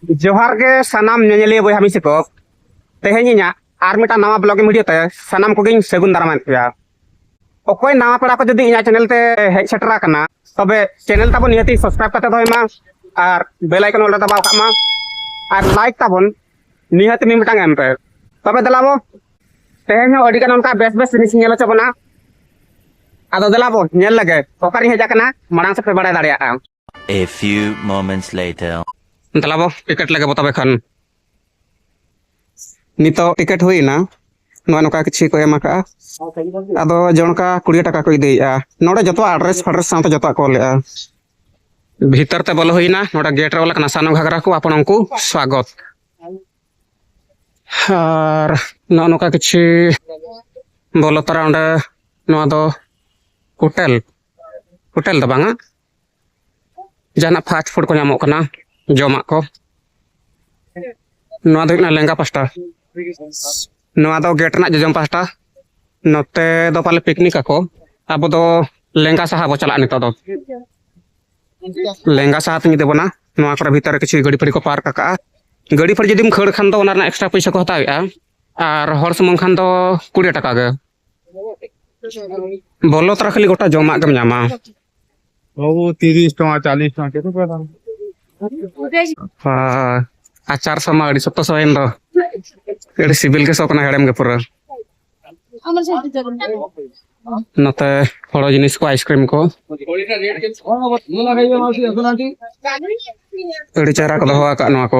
ᱡᱚᱦᱟᱨ ᱜᱮ ᱥᱟᱱᱟᱢ ᱧᱮᱧᱮᱞᱤᱭᱟᱹ ᱵᱚᱭᱦᱟ ᱢᱤᱥᱤ ᱠᱚ ᱛᱮᱦᱮᱧ ᱤᱧᱟᱹᱜ ᱟᱨ ᱢᱤᱫᱴᱟᱝ ᱱᱟᱣᱟ ᱵᱞᱚᱜᱤᱝ ᱵᱷᱤᱰᱤᱭᱳ ᱛᱮ ᱥᱟᱱᱟᱢ ᱠᱚᱜᱮᱧ ᱥᱟᱹᱜᱩᱱ ᱫᱟᱨᱟᱢᱮᱫ ᱯᱮᱭᱟ ᱚᱠᱚᱭ ᱱᱟᱣᱟ ᱯᱮᱲᱟ ᱠᱚ ᱡᱩᱫᱤ ᱤᱧᱟᱹᱜ ᱪᱮᱱᱮᱞ ᱛᱮ ᱦᱮᱡ ᱥᱮᱴᱮᱨ ᱟᱠᱟᱱᱟ ᱛᱚᱵᱮ ᱪᱮᱱᱮᱞ ᱛᱟᱵᱚᱱ ᱱᱤᱦᱟᱹᱛᱤ ᱥᱟᱵᱥᱠᱨᱟᱭᱤᱵ ᱠᱟᱛᱮ ᱫᱚᱦᱚᱭ ᱢᱟ ᱟᱨ ᱵᱮᱞ ᱟᱭᱠᱚᱱ ᱚᱞ ᱨᱮ ᱫᱟᱵᱟᱣ ᱠᱟᱜ ᱢᱟ ᱟᱨ ᱞᱟᱭᱤᱠ ᱛᱟᱵᱚᱱ ᱱᱤᱦᱟᱹᱛᱤ ᱢᱤᱫ ᱢᱤᱫᱴᱟᱝ ᱮᱢ ᱯᱮ ᱛᱚᱵᱮ ᱫᱮᱞᱟ ᱵᱚ ᱛᱮᱦᱮᱧ ᱦᱚᱸ ᱟᱹᱰᱤ ᱜᱟᱱ ᱚᱱᱠᱟ ᱵᱮᱥ ᱵᱮᱥ ᱡᱤᱱᱤᱥ ᱧᱮᱞ ᱦᱚᱪᱚ ᱵᱚᱱᱟ ᱟᱫᱚ ᱫᱮᱞᱟ ᱵᱚ ᱧᱮᱞ ᱞᱮᱜᱮ ᱚᱠᱟᱨᱤᱧ ᱦᱮᱡ ᱟᱠᱟᱱᱟ ᱢᱟᱲᱟᱝ ᱥᱮᱫ ᱯᱮ ᱵᱟᱲᱟᱭ ᱫᱟᱲᱮᱭᱟᱜᱼᱟ A few moments later. ᱫᱟᱞᱟᱵᱚ ᱴᱤᱠᱮᱴ ᱞᱟᱜᱮ ᱵᱚᱛᱟᱵᱮ ᱠᱷᱟᱱ ᱱᱤᱛᱚᱜ ᱴᱤᱠᱮᱴ ᱦᱩᱭᱱᱟ ᱱᱚᱣᱟ ᱱᱚᱝᱠᱟ ᱠᱤᱪᱷᱩ ᱠᱚ ᱮᱢ ᱟᱠᱟᱜᱼᱟ ᱟᱫᱚ ᱡᱚᱱᱠᱟ ᱠᱩᱲᱤ ᱴᱟᱠᱟ ᱠᱚ ᱤᱫᱤᱭᱮᱜᱼᱟ ᱱᱚᱰᱮ ᱡᱚᱛᱚ ᱟᱰᱨᱮᱥ ᱯᱷᱟᱰᱨᱮᱥ ᱥᱟᱶᱛᱮ ᱡᱚᱛᱚ ᱠᱚ ᱚᱞᱮᱜᱼᱟ ᱵᱷᱤᱛᱟᱨ ᱛᱮ ᱵᱚᱞᱚ ᱦᱩᱭᱱᱟ ᱱᱚᱰᱮ ᱜᱮᱴ ᱨᱮ ᱚᱞ ᱟᱠᱟᱱᱟ ᱥᱟᱱᱚ ᱜᱷᱟᱜᱽᱨᱟ ᱠᱚ ᱟᱯᱚᱱ ᱩᱱᱠᱩ ᱥᱣᱟᱜᱚᱛ ᱟᱨ ᱱᱚᱜᱼᱚ ᱱᱚᱝᱠᱟ ᱠᱤᱪᱷᱩ ᱵᱚᱞᱚ ᱛᱚᱨᱟ ᱚᱸᱰᱮ ᱱᱚᱣᱟ ᱫᱚ ᱦᱳᱴᱮᱞ ᱦᱳᱴᱮᱞ ᱫᱚ ᱵᱟᱝᱟ ᱡᱟᱦᱟᱱᱟᱜ ᱯᱷᱟᱥᱴ ᱯᱷᱩᱰ ᱠᱚ ᱧᱟᱢᱚᱜ ᱠᱟᱱᱟ ᱡᱚᱢᱟᱜ ᱠᱚ ᱱᱚᱣᱟ ᱫᱚ ᱦᱩᱭᱩᱜ ᱠᱟᱱᱟ ᱞᱮᱸᱜᱟ ᱯᱟᱥᱴᱟ ᱱᱚᱣᱟ ᱫᱚ ᱜᱮᱴ ᱨᱮᱱᱟᱜ ᱡᱚᱡᱚᱢ ᱯᱟᱥᱴᱟ ᱱᱚᱛᱮ ᱫᱚ ᱯᱟᱞᱮ ᱯᱤᱠᱱᱤᱠ ᱟᱠᱚ ᱟᱵᱚ ᱫᱚ ᱞᱮᱸᱜᱟ ᱥᱟᱦᱟ ᱵᱚ ᱪᱟᱞᱟᱜᱼᱟ ᱱᱤᱛᱚᱜ ᱫᱚ ᱞᱮᱸᱜᱟ ᱥᱟᱦᱟ ᱛᱤᱧ ᱤᱫᱤ ᱵᱚᱱᱟ ᱱᱚᱣᱟ ᱠᱚᱨᱮ ᱵᱷᱤᱛᱟᱹᱨ ᱨᱮ ᱠᱤᱪᱷᱩ ᱜᱟᱹᱰᱤ ᱯᱷᱟᱹᱰᱤ ᱠᱚ ᱯᱟᱨᱠ ᱟᱠᱟᱜᱼᱟ ᱜᱟᱹᱰᱤ ᱯᱷᱟᱹᱰᱤ ᱡᱩᱫᱤᱢ ᱠᱷᱟᱹᱲ ᱠᱷᱟᱱ ᱫᱚ ᱚᱱᱟ ᱨᱮᱱᱟᱜ ᱮᱠᱥᱴᱨᱟ ᱯᱚᱭᱥᱟ ᱠᱚ ᱦᱟᱛᱟᱣᱮᱜᱼᱟ ᱟᱨ ᱦᱚᱲ ᱥᱩᱢᱩᱝ ᱠᱷᱟᱱ ᱫᱚ ᱠᱩᱲᱤ ᱴᱟᱠᱟ ᱜᱮ ᱵᱚᱞᱚ ᱛᱚᱨᱟ ᱠᱷᱟᱹᱞᱤ ᱜᱚᱴᱟ ᱡᱚᱢᱟᱜ ᱜᱮᱢ ᱧᱟᱢᱟ ᱵᱟᱹᱵᱩ ᱛᱤᱨᱤᱥ ᱴᱟᱠᱟ ᱪᱟᱞᱤᱥ ᱴᱟᱠᱟ ᱪᱮᱫ ᱯᱮ ᱫᱟᱢ ᱟᱪᱟᱨ ᱥᱚᱢᱟ ᱟᱹᱰᱤ ᱥᱚᱠᱛᱚ ᱥᱚᱭᱮᱱ ᱫᱚ ᱟᱹᱰᱤ ᱥᱤᱵᱤᱞ ᱜᱮ ᱥᱚ ᱠᱟᱱᱟ ᱦᱮᱲᱮᱢ ᱜᱮ ᱯᱩᱨᱟᱹ ᱱᱚᱛᱮ ᱦᱚᱲᱚ ᱡᱤᱱᱤᱥ ᱠᱚ ᱟᱭᱤᱥᱠᱨᱤᱢ ᱠᱚ ᱟᱹᱰᱤ ᱪᱮᱦᱨᱟ ᱠᱚ ᱫᱚᱦᱚ ᱟᱠᱟᱫ ᱱᱚᱣᱟ ᱠᱚ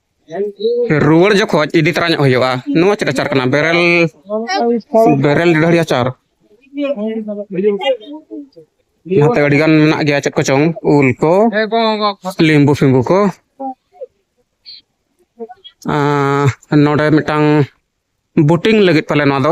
ᱨᱩᱣᱟᱹᱲ ᱡᱚᱠᱷᱚᱡ ᱤᱫᱤ ᱛᱚᱨᱟ ᱧᱚᱜ ᱦᱩᱭᱩᱜᱼᱟ ᱱᱚᱣᱟ ᱪᱮᱫ ᱟᱪᱟᱨ ᱠᱟᱱᱟ ᱵᱮᱨᱮᱞ ᱵᱮᱨᱮᱞ ᱰᱟᱹᱦᱟᱹᱲᱤ ᱟᱪᱟᱨ ᱱᱚᱛᱮ ᱟᱹᱰᱤ ᱜᱟᱱ ᱢᱮᱱᱟᱜ ᱜᱮᱭᱟ ᱪᱮᱫ ᱠᱚᱪᱚᱝ ᱩᱞ ᱠᱚ ᱞᱤᱢᱵᱩ ᱯᱷᱤᱢᱵᱩ ᱠᱚ ᱱᱚᱰᱮ ᱢᱤᱫᱴᱟᱝ ᱵᱳᱴᱤᱝ ᱞᱟᱹᱜᱤᱫ ᱯᱟᱞᱮ ᱱᱚᱣᱟ ᱫᱚ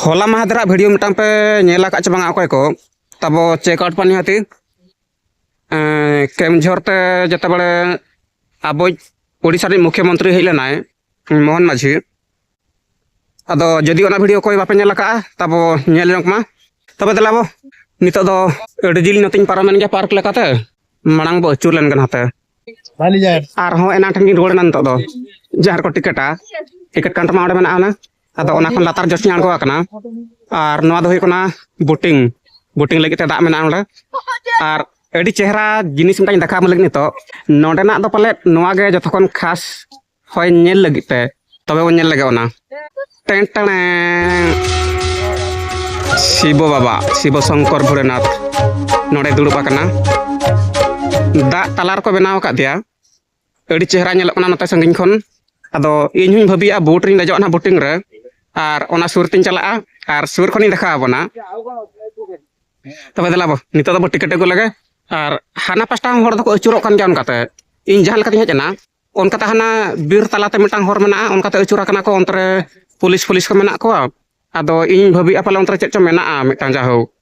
ᱦᱚᱞᱟ ᱢᱟᱦᱫᱮᱨᱟᱜ ᱵᱷᱤᱰᱤᱭᱳ ᱢᱤᱫᱴᱟᱝ ᱯᱮ ᱧᱮᱞ ᱟᱠᱟᱫ ᱪᱮ ᱵᱟᱝᱟ ᱚᱠᱚᱭ ᱠᱚ ᱛᱟᱵᱚ ᱪᱮᱠ ᱟᱣᱩᱴ ᱯᱟᱱᱤ ᱦᱟᱹᱛᱤ ᱠᱮᱢᱡᱷᱚᱨ ᱛᱮ ᱡᱮᱛᱮ ᱵᱟᱲᱮ ᱟᱵᱚᱭ ᱳᱰᱤᱥᱟ ᱨᱤᱱ ᱢᱩᱠᱷᱭᱚ ᱢᱚᱱᱛᱨᱤ ᱦᱮᱡ ᱞᱮᱱᱟᱭ ᱢᱳᱦᱚᱱ ᱢᱟᱹᱡᱷᱤ ᱟᱫᱚ ᱡᱩᱫᱤ ᱚᱱᱟ ᱵᱷᱤᱰᱤᱭᱳ ᱚᱠᱚᱭ ᱵᱟᱯᱮ ᱧᱮᱞ ᱟᱠᱟᱫᱼᱟ ᱛᱟᱵᱚ ᱧᱮᱞ ᱧᱚᱜ ᱢᱟ ᱛᱚᱵᱮ ᱫᱮᱞᱟ ᱵᱚ ᱱᱤᱛᱚᱜ ᱫᱚ ᱟᱹᱰᱤ ᱡᱤᱞ ᱱᱚᱛᱮᱧ ᱯᱟᱨᱚᱢᱮᱱ ᱜᱮᱭᱟ ᱯᱟᱨᱠ ᱞᱮᱠᱟᱛᱮ ᱢᱟᱲᱟᱝ ᱵᱚ ᱟᱹᱪᱩᱨ ᱞᱮᱱ ᱜᱮ ᱱᱟᱛᱮ ᱟᱨᱦᱚᱸ ᱮᱱᱟᱝ ᱴᱷᱮᱱ ᱜᱤᱧ ᱨᱩᱣᱟᱹᱲ ᱮᱱᱟ ᱱᱤᱛᱚᱜ ᱫᱚ ᱡᱟᱦᱟᱸ ᱨᱮᱠᱚ ᱴᱤᱠᱮᱴᱟ ᱴᱤᱠᱮᱴ ᱠᱟᱣᱩᱱᱴᱟᱨ ᱢᱟ ᱚᱸᱰᱮ ᱢᱮᱱᱟᱜᱼᱟ ᱚᱱᱟ ᱟᱫᱚ ᱚᱱᱟ ᱠᱷᱚᱱ ᱞᱟᱛᱟᱨ ᱡᱚᱥᱤᱧ ᱟᱬᱜᱚ ᱟᱠᱟᱱᱟ ᱟᱨ ᱱᱚᱣᱟ ᱫᱚ ᱦᱩᱭᱩᱜ ᱠᱟᱱᱟ ᱵᱳᱴᱤᱝ ᱵᱳᱴᱤᱝ ᱞᱟᱹᱜᱤᱫ ᱛᱮ ᱫᱟᱜ ᱢᱮᱱᱟᱜᱼᱟ ᱱᱚᱰᱮ ᱟᱨ ᱟᱹᱰᱤ ᱪᱮᱦᱨᱟ ᱡᱤᱱᱤᱥ ᱢᱤᱫᱴᱟᱝ ᱫᱮᱠᱷᱟᱣ ᱟᱢ ᱞᱟᱹᱜᱤᱫ ᱱᱤᱛᱚᱜ ᱱᱚᱰᱮᱱᱟᱜ ᱫᱚ ᱯᱟᱞᱮ ᱱᱚᱣᱟ ᱜᱮ ᱡᱚᱛᱚ ᱠᱷᱚᱱ ᱠᱷᱟᱥ ᱦᱚᱭ ᱧᱮᱞ ᱞᱟᱹᱜᱤᱫ ᱛᱮ ᱛᱚᱵᱮ ᱵᱚᱱ ᱧᱮᱞ ᱞᱮᱜᱮ ᱚᱱᱟ ᱴᱮᱱ ᱴᱮᱬᱮ ᱥᱤᱵᱚ ᱵᱟᱵᱟ ᱥᱤᱵᱚ ᱥᱚᱝᱠᱚᱨ ᱵᱷᱳᱞᱮᱱᱟᱛᱷ ᱱᱚᱰᱮ ᱫᱩᱲᱩᱵ ᱟᱠᱟᱱᱟ ᱫᱟᱜ ᱛᱟᱞᱟ ᱨᱮᱠᱚ ᱵᱮᱱᱟᱣ ᱟᱠᱟᱫᱮᱭᱟ ᱟᱹᱰᱤ ᱪᱮᱦᱨᱟ ᱧᱮᱞᱚᱜ ᱠᱟᱱᱟ ᱱᱚᱛᱮ ᱥᱟᱺᱜᱤᱧ ᱠᱷᱚᱱ ᱟᱫᱚ ᱤᱧ ᱦᱚᱧ ᱵᱷᱟᱹᱵᱤᱭᱟ ᱵᱳᱴ ᱨᱤᱧ ᱫᱮᱡᱚᱜᱼᱟ ᱱᱟᱦᱟᱜ ᱵᱳᱴᱤᱝ ᱨᱮ ᱟᱨ ᱚᱱᱟ ᱥᱩᱨ ᱛᱤᱧ ᱪᱟᱞᱟᱜᱼᱟ ᱟᱨ ᱥᱩᱨ ᱠᱷᱚᱱᱤᱧ ᱫᱮᱠᱷᱟᱣ ᱟᱵᱚᱱᱟ ᱛᱚᱵᱮ ᱫᱮᱞᱟ ᱵᱚ ᱱᱤᱛᱚᱜ ᱫᱚ ᱵᱚ ᱴᱤᱠᱮᱴ ᱟᱹᱜᱩ ᱞᱮᱜᱮ ᱟᱨ ᱦᱟᱱᱟ ᱯᱟᱥᱴᱟ ᱦᱚᱸ ᱦᱚᱲ ᱫᱚᱠᱚ ᱟᱹᱪᱩᱨᱚᱜ ᱠᱟᱱ ᱜᱮᱭᱟ ᱚᱱᱠᱟᱛᱮ ᱤᱧ ᱡᱟᱦᱟᱸ ᱞᱮᱠᱟᱛᱤᱧ ᱦᱮᱡ ᱮᱱᱟ ᱚᱱᱠᱟᱛᱮ ᱦᱟᱱᱟ ᱵᱤᱨ ᱛᱟᱞᱟᱛᱮ ᱢᱤᱫᱴᱟᱝ ᱦᱚᱨ ᱢᱮᱱᱟᱜᱼᱟ ᱚᱱᱠᱟᱛᱮ ᱟᱹᱪᱩᱨ ᱟᱠᱟᱱᱟ ᱠᱚ ᱚᱱᱛᱮ ᱨᱮ ᱯᱩᱞᱤᱥ ᱯᱷᱩᱞᱤᱥ ᱠᱚ ᱢᱮᱱᱟᱜ ᱠᱚᱣᱟ ᱟᱫᱚ ᱤᱧ ᱵᱷᱟᱹᱵᱤᱭᱮᱫᱼᱟ ᱯᱟᱞᱮ ᱚᱱᱛᱮ ᱨᱮ ᱪᱮᱫ ᱪᱚᱝ ᱢᱮᱱᱟᱜᱼᱟ ᱢᱤᱫᱴᱟᱝ ᱡᱟᱭᱦᱳᱠ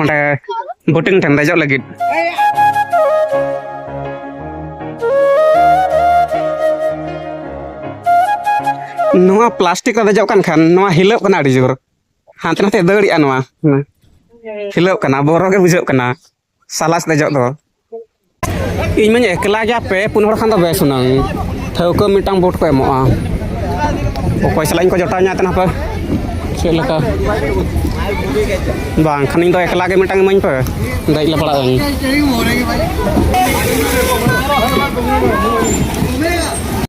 ᱚᱸᱰᱮ ᱵᱳᱴᱤᱝ ᱴᱷᱮᱱ ᱫᱮᱡᱚᱜ ᱞᱟᱹᱜᱤᱫ ᱱᱚᱣᱟ ᱯᱞᱟᱥᱴᱤᱠ ᱨᱮ ᱫᱮᱡᱚᱜ ᱠᱟᱱ ᱠᱷᱟᱱ ᱱᱚᱣᱟ ᱦᱤᱞᱟᱹᱜ ᱠᱟᱱᱟ ᱟᱹᱰᱤ ᱡᱳᱨ ᱦᱟᱱᱛᱮ ᱱᱟᱛᱮ ᱫᱟᱹᱲᱮᱜᱼᱟ ᱱᱚᱣᱟ ᱦᱤᱞᱟᱹᱜ ᱠᱟᱱᱟ ᱵᱚᱨᱚ ᱜᱮ ᱵᱩᱡᱷᱟᱹᱜ ᱠᱟᱱᱟ ᱥᱟᱞᱟᱥ ᱫᱮᱡᱚᱜ ᱫᱚ ᱤᱧ ᱢᱟᱧ ᱮᱠᱞᱟ ᱜᱮᱭᱟ ᱯᱮ ᱯᱩᱱ ᱦᱚᱲ ᱠᱷᱟᱱ ᱫᱚ ᱵᱮᱥ ᱦᱩᱱᱟᱹᱝ ᱴᱷᱟᱹᱣᱠᱟᱹ ᱢᱤᱫᱴᱟᱝ ᱵᱳᱴ ᱠᱚ ᱮᱢᱚᱜᱼᱟ ᱚᱠᱚᱭ ᱥᱟᱞᱟᱜ ᱤᱧ ᱠᱚ ᱡᱚᱴᱟᱣ ᱧᱟᱛᱮ ᱦᱟᱯᱮ ᱪᱮᱫ ᱞᱮᱠᱟ ᱵᱟᱝ ᱠᱷᱟᱱ ᱤᱧ ᱫᱚ ᱮᱠᱞᱟ ᱜᱮ ᱢᱤᱫᱴᱟᱝ ᱤᱢᱟᱹᱧ ᱯᱮ ᱫᱮᱡ ᱞᱮ ᱯᱟᱲᱟᱜ ᱟᱹᱧ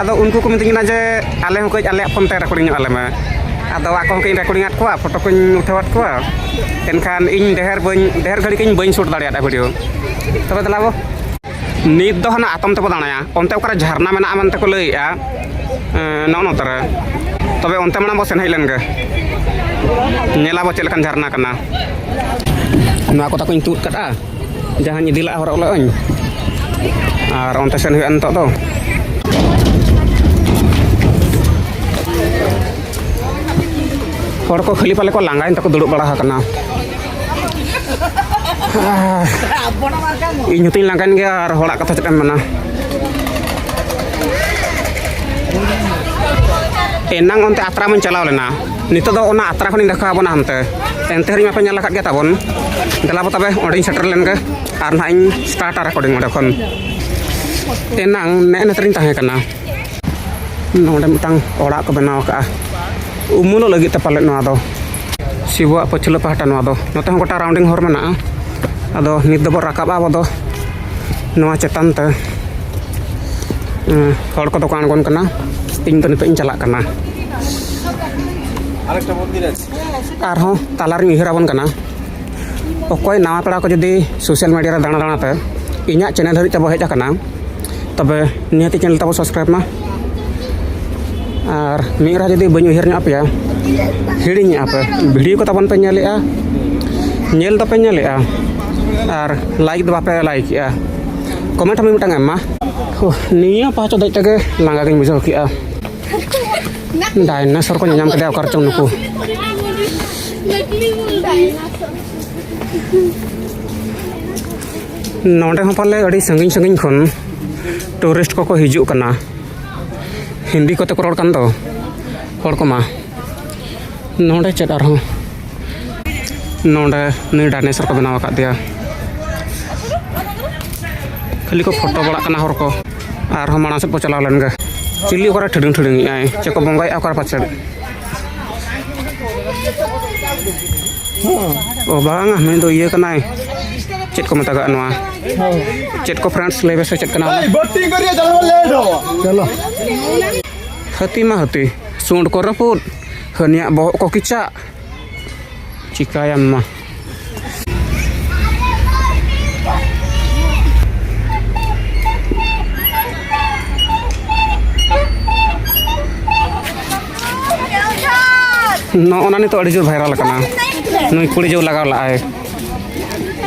ᱟᱫᱚ ᱩᱱᱠᱩ ᱠᱚ ᱢᱤᱛᱟᱹᱧ ᱠᱟᱱᱟ ᱡᱮ ᱟᱞᱮ ᱦᱚᱸ ᱠᱟᱹᱡ ᱟᱞᱮᱭᱟᱜ ᱯᱷᱳᱱ ᱛᱮ ᱨᱮᱠᱳᱰᱤᱝ ᱧᱚᱜ ᱟᱞᱮ ᱢᱮ ᱟᱫᱚ ᱟᱠᱚ ᱦᱚᱸ ᱠᱟᱹᱡ ᱨᱮᱠᱳᱰᱤᱝ ᱟᱫ ᱠᱚᱣᱟ ᱯᱷᱳᱴᱳ ᱠᱚᱧ ᱩᱴᱷᱟᱹᱣ ᱟᱫ ᱠᱚᱣᱟ ᱮᱱᱠᱷᱟᱱ ᱤᱧ ᱰᱷᱮᱨ ᱵᱟᱹᱧ ᱰᱷᱮᱨ ᱜᱷᱟᱹᱲᱤᱡ ᱤᱧ ᱵᱟᱹᱧ ᱥᱩᱴ ᱫᱟᱲᱮᱭᱟᱫᱟ ᱵᱷᱤᱰᱤᱭᱳ ᱛᱚᱵᱮ ᱫᱮᱞᱟ ᱵᱚ ᱱᱤᱛ ᱫᱚ ᱦᱟᱱᱟ ᱟᱛᱚᱢ ᱛᱮᱵᱚ ᱫᱟᱬᱟᱭᱟ ᱚᱱᱛᱮ ᱚᱠᱟᱨᱮ ᱡᱷᱟᱨᱱᱟ ᱢᱮᱱᱟᱜᱼᱟ ᱢᱮᱱᱛᱮ ᱠᱚ ᱞᱟᱹᱭᱮᱜᱼᱟ ᱱᱚᱜᱼᱚ ᱱᱚᱛᱮ ᱨᱮ ᱛᱚᱵᱮ ᱚᱱᱛᱮ ᱢᱟᱲᱟᱝ ᱵᱚ ᱥᱮᱱ ᱦᱮᱡ ᱞᱮᱱ ᱜᱮ ᱧᱮᱞᱟᱵᱚ ᱪᱮᱫ ᱞᱮᱠᱟᱱ ᱡᱷᱟᱨᱱᱟ ᱠᱟᱱᱟ ᱱᱚᱣᱟ ᱠᱚ ᱛᱟᱠᱚᱧ ᱛᱩᱫ ᱠᱟᱫᱼᱟ ᱡᱟᱦᱟᱸᱧ ᱤᱫᱤ ᱞᱟᱜᱼᱟ ᱦᱚᱨᱚᱜ ᱞᱟᱜᱼᱟᱹᱧ ᱟᱨ ᱚᱱᱛᱮ ᱥᱮᱱ ᱦᱩᱭᱩᱜᱼᱟ ᱱᱤᱛᱚᱜ ᱫᱚ ᱦᱚᱲ ᱠᱚ ᱠᱷᱟᱹᱞᱤ ᱯᱟᱞᱮ ᱠᱚ ᱞᱟᱸᱜᱟᱭᱮᱱ ᱛᱟᱠᱚ ᱫᱩᱲᱩᱵ ᱵᱟᱲᱟ ᱟᱠᱟᱱᱟ ᱤᱧ ᱦᱚᱸᱛᱚᱧ ᱞᱟᱸᱜᱟᱭᱮᱱ ᱜᱮᱭᱟ ᱟᱨ ᱦᱚᱲᱟᱜ ᱠᱟᱛᱷᱟ ᱪᱮᱫ ᱮᱢ ᱢᱮᱱᱟ ᱮᱱᱟᱝ ᱚᱱᱛᱮ ᱟᱛᱨᱟ ᱢᱟᱧ ᱪᱟᱞᱟᱣ ᱞᱮᱱᱟ ᱱᱤᱛᱚᱜ ᱫᱚ ᱚᱱᱟ ᱟᱛᱨᱟ ᱠᱷᱚᱱᱤᱧ ᱫᱮᱠᱷᱟᱣ ᱵᱚᱱᱟ ᱦᱟᱱᱛᱮ ᱮᱱᱛᱮ ᱨᱮᱦᱚᱸ ᱯᱮ ᱧᱮᱞ ᱟᱠᱟᱫ ᱜᱮᱭᱟ ᱛᱟᱵᱚᱱ ᱫᱮᱞᱟ ᱵᱚ ᱛᱚᱵᱮ ᱚᱸᱰᱮᱧ ᱥᱮᱴᱮᱨ ᱞᱮᱱ ᱜᱮ ᱟᱨ ᱱᱟᱦᱟᱜ ᱤᱧ ᱥᱴᱟᱨᱴᱟ ᱨᱮᱠᱚᱨᱰᱤᱝ ᱚᱸᱰᱮ ᱠᱷᱚᱱ ᱮᱱᱟᱝ ᱱᱮᱜᱼᱮ ᱱᱮᱛᱟᱨᱤᱧ ᱛᱟᱦᱮᱸ ᱠᱟᱱᱟ ᱱᱚᱰᱮ ᱢᱤᱫᱴᱟᱝ ᱚᱲᱟᱜ ᱠᱚ ᱵᱮᱱᱟᱣ ᱟᱠᱟᱫᱼᱟ ᱩᱢᱩᱞᱚᱜ ᱞᱟᱹᱜᱤᱫ ᱛᱮ ᱯᱟᱞᱮᱫ ᱱᱚᱣᱟ ᱫᱚ ᱥᱤᱵᱩᱣᱟᱜ ᱯᱟᱹᱪᱷᱞᱟᱹ ᱯᱟᱦᱴᱟ ᱱᱚᱣᱟ ᱫᱚ ᱱᱚᱛᱮ ᱦᱚᱸ ᱜᱚᱴᱟ ᱨᱟᱣᱩᱱᱰᱤᱝ ᱦᱚᱨ ᱢᱮᱱᱟᱜᱼᱟ ᱟᱫᱚ ᱱᱤᱛ ᱫᱚᱵᱚ ᱨᱟᱠᱟᱵᱼᱟ ᱟᱵᱚ ᱫᱚ ᱱᱚᱣᱟ ᱪᱮᱛᱟᱱ ᱛᱮ ᱦᱚᱲ ᱠᱚᱫᱚ ᱠᱚ ᱟᱬᱜᱚᱱ ᱠᱟᱱᱟ ᱤᱧ ᱫᱚ ᱱᱤᱛᱚᱜ ᱤᱧ ᱪᱟᱞᱟᱜ ᱠᱟᱱᱟ ᱟᱨᱦᱚᱸ ᱛᱟᱞᱟᱨᱤᱧ ᱩᱭᱦᱟᱹᱨ ᱟᱵᱚᱱ ᱠᱟᱱᱟ ᱚᱠᱚᱭ ᱱᱟᱣᱟ ᱯᱮᱲᱟ ᱠᱚ ᱡᱩᱫᱤ ᱥᱳᱥᱟᱞ ᱢᱤᱰᱤᱭᱟ ᱨᱮ ᱫᱟᱬᱟ ᱫᱟᱬᱟᱛᱮ ᱤᱧᱟᱹᱜ ᱪᱮᱱᱮᱞ ᱦᱟᱹᱨᱤᱡ ᱛᱮᱵᱚ ᱦᱮᱡ ᱟᱠᱟᱱᱟ ᱛᱚᱵᱮ ᱱᱤᱦᱟᱹᱛᱤ ᱪᱮᱱᱮᱞ ᱛᱟᱵᱚ ᱥᱟᱵᱥᱠᱨᱟᱭᱤᱵᱽ ᱢᱟ ᱟᱨ ᱢᱤᱫ ᱨᱟᱦᱟ ᱡᱩᱫᱤ ᱵᱟᱹᱧ ᱩᱭᱦᱟᱹᱨ ᱧᱚᱜ ᱟᱯᱮᱭᱟ ᱦᱤᱲᱤᱧᱮᱜᱼᱟ ᱯᱮ ᱵᱷᱤᱰᱤᱭᱳ ᱠᱚ ᱛᱟᱵᱚᱱ ᱯᱮ ᱧᱮᱞᱮᱜᱼᱟ ᱧᱮᱞ ᱫᱚᱯᱮ ᱧᱮᱞᱮᱜᱼᱟ ᱟᱨ ᱞᱟᱭᱤᱠ ᱫᱚ ᱵᱟᱯᱮ ᱞᱟᱭᱤᱠᱮᱜᱼᱟ ᱠᱚᱢᱮᱱᱴ ᱦᱚᱸ ᱢᱤᱫᱴᱟᱝ ᱮᱢ ᱢᱟ ᱱᱤᱭᱟᱹ ᱯᱟᱦᱴᱟ ᱫᱮᱡ ᱛᱮᱜᱮ ᱞᱟᱸᱜᱟ ᱜᱤᱧ ᱵᱩᱡᱷᱟᱹᱣ ᱠᱮᱜᱼᱟ ᱰᱟᱭᱱᱟᱥᱚᱨ ᱠᱚ ᱧᱟᱢ ᱠᱮᱫᱟ ᱚᱠᱟᱨ ᱪᱚᱝ ᱱᱩᱠᱩ ᱱᱚᱰᱮ ᱦᱚᱸ ᱯᱟᱞᱮ ᱟᱹᱰᱤ ᱥᱟᱺᱜᱤᱧ ᱥᱟᱺᱜᱤᱧ ᱠᱷᱚᱱ ᱴᱩᱨᱤᱥᱴ ᱠᱚᱠᱚ ᱦᱤᱡᱩᱜ ᱠᱟᱱᱟ ᱦᱤᱱᱫᱤ ᱠᱚᱛᱮ ᱠᱚ ᱨᱚᱲ ᱠᱟᱱ ᱫᱚ ᱦᱚᱲ ᱠᱚᱢᱟ ᱱᱚᱰᱮ ᱪᱮᱫ ᱟᱨᱦᱚᱸ ᱱᱚᱰᱮ ᱱᱩᱭ ᱰᱟᱭᱱᱮᱥᱚᱨ ᱠᱚ ᱵᱮᱱᱟᱣ ᱟᱠᱟᱫᱮᱭᱟ ᱠᱷᱟᱹᱞᱤ ᱠᱚ ᱯᱷᱳᱴᱳ ᱵᱟᱲᱟᱜ ᱠᱟᱱᱟ ᱦᱚᱲ ᱠᱚ ᱟᱨᱦᱚᱸ ᱢᱟᱲᱟᱝ ᱥᱮᱫ ᱵᱚ ᱪᱟᱞᱟᱣ ᱞᱮᱱ ᱜᱮ ᱪᱤᱞᱤ ᱚᱠᱟᱨᱮ ᱴᱷᱤᱰᱤᱝ ᱴᱷᱤᱰᱤᱝ ᱮᱫᱟᱭ ᱪᱮᱫ ᱠᱚ ᱵᱚᱸᱜᱟᱭᱮᱫᱼᱟ ᱚᱠᱟᱨᱮ ᱯᱟᱪᱮᱫ ᱚ ᱵᱟᱝᱟ ᱱᱩᱭ ᱫᱚ ᱤᱭᱟᱹ ᱠᱟᱱᱟᱭ ᱪᱮᱫ ᱠᱚ ᱢᱮᱛᱟᱜᱟᱜ ᱱᱚᱣᱟ ᱪᱮᱫ ᱠᱚ ᱯᱷᱨᱮᱱᱰᱥ ᱞᱟᱹᱭ ᱢᱮᱥᱮ ᱪᱮᱫ ᱠᱟᱱᱟ ᱪᱚᱞᱚ ᱦᱟᱹᱛᱤ ᱢᱟ ᱦᱟᱹᱛᱤ ᱥᱩᱸᱰ ᱠᱚ ᱨᱟᱹᱯᱩᱫ ᱦᱟᱹᱱᱤᱭᱟᱜ ᱵᱚᱦᱚᱜ ᱠᱚ ᱠᱮᱪᱟᱜ Chikayama. ᱱᱚᱜᱼᱚ ᱱᱟ ᱱᱤᱛᱚᱜ ᱟᱹᱰᱤ ᱡᱳᱨ ᱵᱷᱟᱭᱨᱟᱞ ᱠᱟᱱᱟ ᱱᱩᱭ ᱠᱩᱲᱤ ᱡᱳᱨ ᱞᱟᱜᱟᱣ ᱞᱟᱜᱼᱟᱭ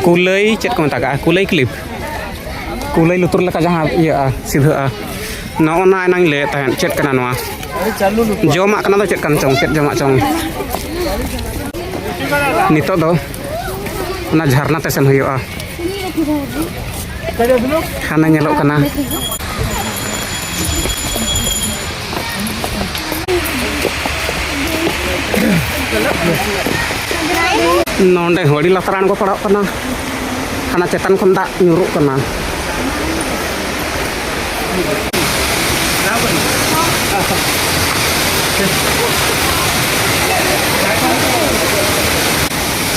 ᱠᱩᱞᱟᱹᱭ ᱪᱮᱫ ᱠᱚ ᱢᱮᱛᱟᱜᱼᱟ ᱠᱩᱞᱟᱹᱭ ᱠᱞᱤᱯ ᱠᱩᱞᱟᱹᱭ ᱞᱩᱛᱩᱨ ᱞᱮᱠᱟ ᱡᱟᱦᱟᱸ ᱤᱭᱟᱹᱜᱼᱟ ᱥᱤᱫᱷᱟᱹᱜᱼᱟ ᱱᱚᱜᱼᱚ ᱱᱟ ᱮᱱᱟᱝ ᱞᱟᱹᱭᱮᱫ ᱛᱟᱦᱮᱸᱫ ᱪᱮᱫ ᱠᱟᱱᱟ ᱱᱚᱣᱟ ᱡᱚᱢᱟᱜ ᱠᱟᱱᱟ ᱫᱚ ᱪᱮᱫ ᱠᱟᱱ ᱪᱚᱝ ᱪᱮᱫ ᱡᱚᱢᱟᱜ ᱪᱚᱝ ᱱᱤᱛᱚᱜ ᱫᱚ ᱚᱱᱟ ᱡᱷᱟᱨᱱᱟ ᱛᱮ ᱥᱮᱱ ᱦᱩᱭᱩᱜᱼᱟ ᱦᱟᱱᱮ ᱧᱮᱞᱚᱜ ᱠᱟᱱᱟ ᱱᱚᱰᱮ ᱦᱚᱲᱤ ᱞᱟᱛᱟᱨ ᱟᱬᱜᱚ ᱯᱟᱲᱟᱜ ᱠᱟᱱᱟ ᱦᱟᱱᱟ ᱪᱮᱛᱟᱱ ᱠᱷᱚᱱ ᱫᱟᱜ ᱧᱩᱨᱩᱜ ᱠᱟᱱᱟ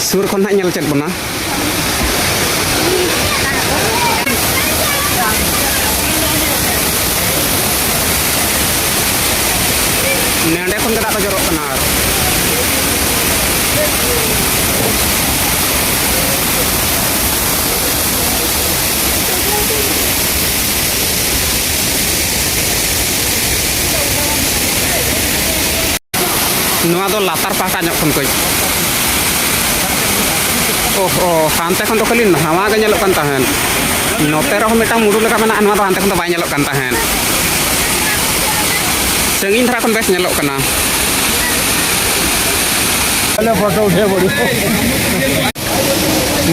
ᱥᱩᱨ ᱠᱷᱚᱱ ᱦᱟᱸᱜ ᱧᱮᱞ ᱪᱮᱫ ᱵᱚᱱᱟ ᱱᱮᱸᱰᱮ ᱠᱷᱚᱱ ᱜᱮ ᱫᱟᱜ ᱠᱚ ᱡᱚᱨᱚᱜ ᱠᱟᱱᱟ ᱟᱨ ᱱᱚᱣᱟ ᱫᱚ ᱞᱟᱛᱟᱨ ᱯᱟᱦᱴᱟ ᱧᱚᱜ ᱠᱷᱚᱱ ᱠᱚ ᱚᱦᱚ ᱦᱟᱱᱛᱮ ᱠᱷᱚᱱ ᱫᱚ ᱠᱷᱟᱹᱞᱤ ᱱᱟᱣᱟ ᱜᱮ ᱧᱮᱞᱚᱜ ᱠᱟᱱ ᱛᱟᱦᱮᱸᱫ ᱱᱚᱛᱮ ᱨᱮᱦᱚᱸ ᱢᱤᱫᱴᱟᱝ ᱢᱩᱰᱩ ᱞᱮᱠᱟ ᱢᱮᱱᱟᱜᱼᱟ ᱱᱚᱣᱟ ᱫᱚ ᱦᱟᱱᱛᱮ ᱠᱷᱚᱱ ᱫᱚ ᱵᱟᱭ ᱧᱮᱞᱚᱜ ᱠᱟᱱ ᱛᱟᱦᱮᱸᱫ ᱥᱟᱺᱜᱤᱧ ᱫᱷᱟᱨᱟ ᱠᱷᱚᱱ ᱵᱮᱥ ᱧᱮᱞᱚᱜ ᱠᱟᱱᱟ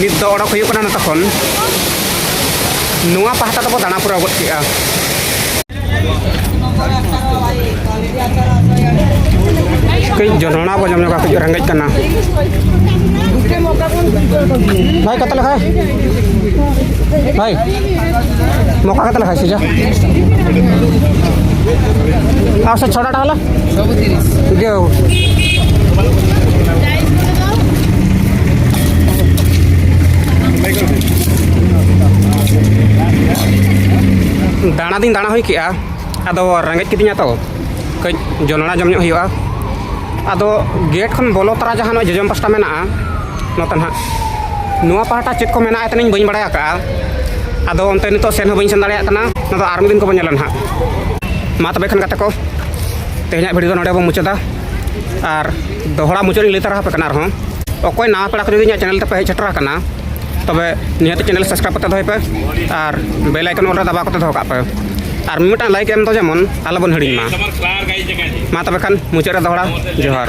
ᱱᱤᱛ ᱫᱚ ᱚᱰᱚᱠ ᱦᱩᱭᱩᱜ ᱠᱟᱱᱟ ᱱᱚᱛᱮ ᱠᱷᱚᱱ ᱱᱚᱣᱟ ᱯᱟᱦᱴᱟ ᱫᱚᱠᱚ ᱫᱟᱬᱟ ᱯᱩᱨᱟᱹᱣ ᱜᱚᱫ ᱠᱮᱜᱼᱟ ᱠᱟᱹᱡ ᱡᱚᱱᱚᱲᱟ ᱵᱚ ᱡᱚᱢ ᱧᱚᱜᱟ ᱠᱟᱹᱡ ᱨᱮᱸᱜᱮᱡ ᱠᱟᱱᱟ ᱵᱷᱟᱭ ᱠᱟᱛᱮ ᱞᱮᱠᱷᱟᱭ ᱵᱷᱟᱭ ᱢᱚᱠᱟ ᱠᱟᱛᱮ ᱞᱮᱠᱷᱟᱭ ᱥᱮᱡᱟ ᱟᱥᱟ ᱪᱷᱚᱲᱟ ᱰᱟᱦᱟᱞᱟ ᱥᱚᱵᱩ ᱛᱤᱨᱤᱥ ᱫᱟᱬᱟ ᱫᱤᱧ ᱫᱟᱬᱟ ᱦᱩᱭ ᱠᱮᱜᱼᱟ ᱟᱫᱚ ᱨᱮᱸᱜᱮᱡ ᱠᱤᱫᱤᱧᱟ ᱛᱚ ᱠᱟᱹᱡ ᱡᱚᱱᱚᱲᱟ ᱡᱚᱢ ᱧᱚᱜ ᱦᱩᱭᱩᱜᱼᱟ ᱟᱫᱚ ᱜᱮᱴ ᱠᱷᱚᱱ ᱵᱚᱞᱚ ᱛᱚᱨᱟ ᱡᱟᱦᱟᱸ ᱱᱚᱜᱼᱚᱭ ᱡᱚᱡᱚᱢ ᱯᱟᱥᱴᱟ ᱢᱮᱱᱟᱜᱼᱟ ᱱᱚᱛᱮ ᱱᱟᱦᱟᱜ ᱱᱚᱣᱟ ᱯᱟᱦᱴᱟ ᱪᱮᱫ ᱠᱚ ᱢᱮᱱᱟᱜᱼᱟ ᱛᱟᱹᱱᱤᱧ ᱵᱟᱹᱧ ᱵᱟᱲᱟᱭ ᱟᱠᱟᱜᱼᱟ ᱟᱫᱚ ᱚᱱᱛᱮ ᱱᱤᱛᱚᱜ ᱥᱮᱱ ᱦᱚᱸ ᱵᱟᱹᱧ ᱥᱮᱱ ᱫᱟᱲᱮᱭᱟᱜ ᱠᱟᱱᱟ ᱱᱚᱣᱟ ᱫᱚ ᱟᱨ ᱢᱤᱫ ᱫᱤᱱ ᱠᱚᱵᱚᱱ ᱧᱮᱞᱟ ᱱᱟᱦᱟᱜ ᱢᱟ ᱛᱚᱵᱮ ᱠᱷᱟᱱ ᱜᱟᱛᱮ ᱠᱚ ᱛᱮᱦᱮᱧᱟᱜ ᱵᱷᱤᱰᱤᱭᱳ ᱫᱚ ᱱᱚᱰᱮ ᱵᱚᱱ ᱢᱩᱪᱟᱹᱫᱟ ᱟᱨ ᱫᱚᱦᱲᱟ ᱢᱩᱪᱟᱹᱫ ᱞᱟᱹᱭ ᱛᱟᱨᱟ ᱟᱯᱮ ᱠᱟᱱᱟ ᱟᱨᱦᱚᱸ ᱚᱠᱚᱭ ᱱᱟᱣᱟ ᱯᱮᱲᱟ ᱠᱚ ᱡᱩᱫᱤ ᱤᱧᱟᱹᱜ ᱪᱮᱱᱮᱞ ᱛᱮᱯᱮ ᱦᱮᱡ ᱥᱮᱴᱮᱨ ᱟᱠᱟᱱᱟ ᱛᱚᱵᱮ ᱱᱤᱦᱟᱹᱛ ᱪᱮᱱᱮᱞ ᱥᱟᱵᱥᱠᱨᱟᱭᱤᱵ ᱠᱟᱛᱮ ᱫᱚᱦᱚᱭ ᱯᱮ ᱟᱨ ᱵᱮᱞ ᱟᱭᱠᱚᱱ ᱚᱞ ᱨᱮ ᱫᱟᱵᱟᱣ ᱠᱟᱛᱮ ᱫᱚᱦᱚ ᱠᱟᱜ ᱯᱮ ᱟᱨ ᱢᱤᱫᱴᱟᱝ ᱞᱟᱭᱤᱠ ᱮᱢ ᱫᱚ ᱡᱮᱢᱚᱱ ᱟᱞᱚᱵᱚᱱ ᱦᱤᱲᱤᱧ ᱢᱟ ᱢᱟ ᱛᱚᱵᱮ ᱠᱷᱟᱱ ᱢᱩᱪᱟᱹᱫ ᱨᱮ ᱫᱚᱦᱲᱟ ᱡᱚᱦᱟᱨ